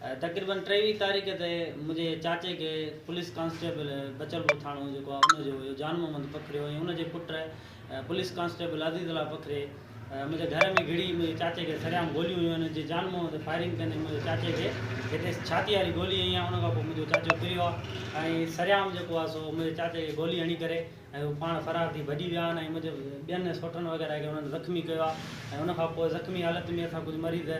تقريبن ٽيويهه تاريخ تي منهنجي چاچي کي پوليس ڪانسٽيبل بچلپور ٿاڻو جيڪو آهي ان جو هيو جان محمد پکريو ۽ ان جي پٽ police constable Azizullah Pakhri منهنجي گهر ۾ گهڙي منهنجي چاچي کي سرعام گوليون هيون ان جي جان محمد فائرنگ ڪندي منهنجي چاچي کي هتي ڇاتي واري گولي هنئي آهي ان کان پوء منهنجو چاچو ڪريو آهي ۽ سرعام جيڪو آهي سو منهنجي چاچي کي گولي هڻي ڪري ۽ هو پاڻ فرار ٿي ڀڄي ويا آهن ۽ مجب ٻين سوٽرن وغيره کي انهن زخمي ڪيو آهي ۽ ان کان پوء زخمي حالت ۾ اسان ڪجهه مريض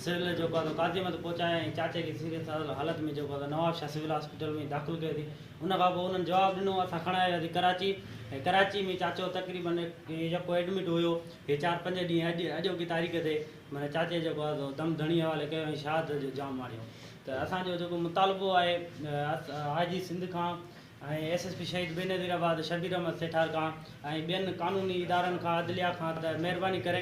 سول جيڪو آهي سو قاضيمت پهچايا ۽ چاچي کي سيريس حالت ۾ جيڪو آهي سو نوابشاهه سول هاسپيٽل ۾ داخل ڪيو اٿي ان کان پوء انهن جواب ڏنو اسان کڻائي وياسي ڪراچي ۽ ڪراچي ۾ چاچو تقريبن جيڪو ايڊمٽ هيو هي چار پنج ڏينهن اڄ اڄوڪي تاريخ تي معنيٰ چاچي جيڪو آهي سو دم ڌڻي حوالي ڪيو ۽ شهادت جو جام ماڻيو ته اسان جو جيڪو مطالبو آهي آء جي سنڌ کان ۽ ايس ايس پي شهيد بي نظير آباد شبير احمد سيٺار کان ۽ ٻين قانوني ادارن کان عدليا کان ته مهرباني ڪري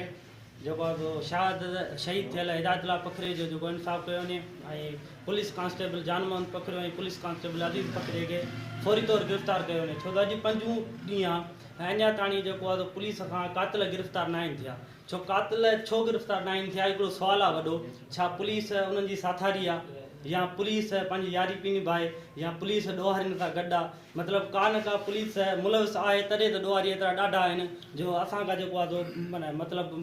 جيڪو آهي سو شهاد شهيد ٿيل هدايت الله پکري جو جيڪو انصاف ڪيو وڃي ۽ police constable Jan Muhammad Pakhrio ۽ police constable Aziz Pakhri کي فوري طور گرفتار ڪيو وڃي ڇو ته اڄ پنجون ڏينهن آهي ۽ اڃا تاڻي جيڪو آهي سو پوليس کان قاتل گرفتار ناهن ٿيا ڇو قاتل ڇو گرفتار ناهن ٿيا هڪڙو سوال آ وڏو ڇا پوليس انهن جي ساٿاري آ يا پوليس پنهنجي ياري پي نڀائي يا پوليس ڏوهارين سان گڏ آ مطلب ڪا نه ڪا پوليس ملوث آهي تڏهن ته ڏوهاري ايترا ڏاڍا آهن جو اسان کان جيڪو آ سو مطلب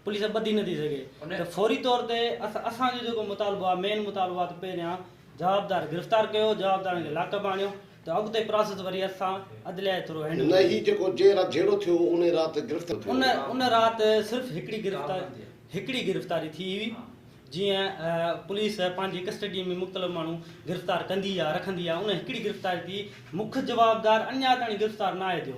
پوليس ٻڌي نٿي سگهي ته فوري طور تي اسان جو جيڪو مطالبو آ مين مطالبو آ ته پهريان جوابدار گرفتار ڪيو جوابدارن کي لاڪ ۾ آڻيو ته اڳتي پراسس وري اسان عدليه جي ٿرو هينڊل ڪنداسين. نه هي جيڪو جنهن رات جهيڙو ٿيو هو ان رات گرفتار ٿيو. ان ان رات صرف هڪڙي گرفتاري هڪڙي گرفتاري ٿي هئي جيئن پوليس پنهنجي ڪسٽڊي ۾ مختلف ماڻهو گرفتار ڪندي يا رکندي آهي ان هڪڙي گرفتاري ٿي مک جوابدار اڃا تائين گرفتار ناهي ٿيو.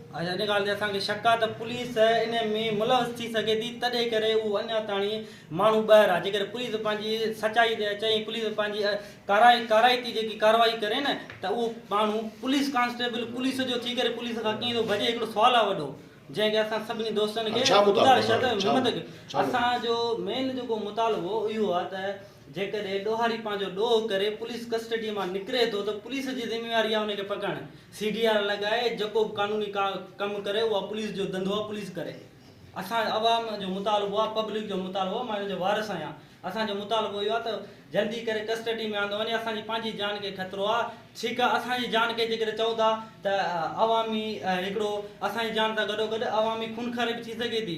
اڄ ان ڳالهه تي اسان کي شڪ آهي ته پوليس ان ۾ ملوث ٿي سگهي ٿي تڏهن ڪري اهو اڃا تاڻي ماڻهو ٻاهر آهي جيڪڏهن پوليس پنهنجي سچائي تي اچي ۽ پوليس پنهنجي ڪارائي ڪارائتي جيڪي ڪارروائي ڪري نه ته اهو ماڻهو پوليس ڪانسٽيبل پوليس جو ٿي ڪري پوليس کان ڪيئن ٿو ڀڄي هڪڙو سوال آهي وڏو جنهن کي اسان سڀني دوستن کي گذارش آهي ته همت ڪيو اسان جو مين جيڪو مطالبو اهو آهي ته جيڪڏهن ڏوهاري پنهنجو ڏوهه ڪري پوليس ڪسٽڊي مان نڪري ٿو ته پوليس جي ذميواري آهي ان کي پڪڙڻ، سي ڊي آر لڳائي جيڪو به قانوني ڪم ڪري اها پوليس جو ڌنڌو آهي پوليس ڪري. اسان عوام جو مطالبو آهي پبلڪ جو مطالبو آهي مان ان جو وارث آهيان اسان جو مطالبو اهو آهي ته جلدي ڪري ڪسٽڊي ۾ آندو وڃي اسان جي پنهنجي جان کي خطرو آهي ڇيڪ اسان جي جان کي جيڪڏهن چئون ٿا ته عوامي هڪڙو اسان جي جان سان گڏوگڏ عوامي خونخاري به ٿي سگهي ٿي.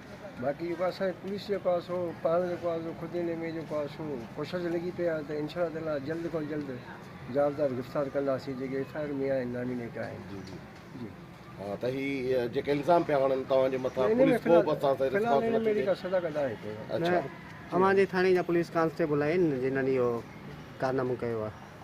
باقي جيڪو اسان جي پوليس جيڪو آ سو پاڻ جيڪو آ سو خود ان ۾ جيڪو آ سو ڪوشش لڳي پئي آ ته ان شاء تعاليٰ جلد کان جلد جوابدار گرفتار ڪنداسين جيڪي ايف آء آر ۾ آهن نامينيٽ آهن جي جي جي ها ته هي جيڪي الزام پيا هڻن توهان جي مٿان ان ۾ پوليس ڪو به اسان سان فلحال رسپانس ان ۾ نٿي اهڙي ڏي ڪا صداقت آهي ڪو نه اڇا اوهان جي ٿاڻي جا پوليس ڪانسٽيبل آهن جنھن اهو ڪارنامو ڪيو آ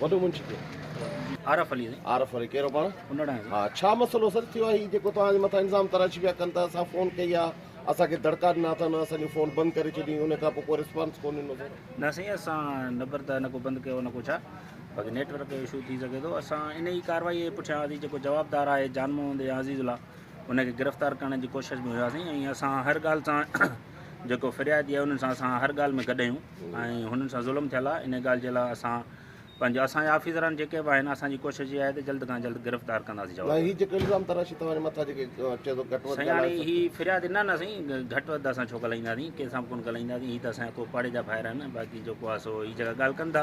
وڏو منشي ڪير؟ عارف علي سائين. عارف علي ڪهڙو پاڻ؟ انڙ آهي سائين. ها ڇا مسئلو سر ٿيو آهي هي جيڪو توهان جي مٿان الزام تراشي پيا ڪن ته اسان فون ڪئي آ اسان کي دڙڪا ڏنا اٿن اسان جون فون بند ڪري ڇڏيون انهي کان پوء ڪو رسپانس ڪو ڏنو سر. نه سائين اسان نبر ته نه ڪو بند ڪيو نه ڪو ڇا باقي نيٽ ورڪ جو اشو ٿي سگهي ٿو اسان ان ئي ڪارروائي جي پٺيان هئاسين جيڪو جوابدار آهي جان محمد يا عزيز الله ان کي گرفتار ڪرڻ جي ڪوشش ۾ هياسين ۽ اسان هر ڳالهه سان جيڪو فريادي آهي انهن سان اسان هر ڳالهه ۾ گڏ آهيون ۽ هنن سان ظلم ٿيل آهي انهي ڳالهه جي لاء اسان پنهنجي اسان جا آفيسران جيڪي به آهن اسان جي ڪوشش اها آهي ته جلد کان جلد گرفتار ڪنداسين جواب سائين هي جيڪو الزام تراشي توهان جي مٿان جيڪي چئي ٿو گهٽ وڌ سائين هاڻي ڳالهائي هي فريادي نه نه سائين گهٽ وڌ اسان ڇو ڳالهائينداسين ڪنهن سان به ڪونه ڳالهائينداسين هي ته اسان جا ڪو پاڙي جا ڀائر آهن باقي جيڪو آهي سو هي جيڪا ڳالهه ڪن ٿا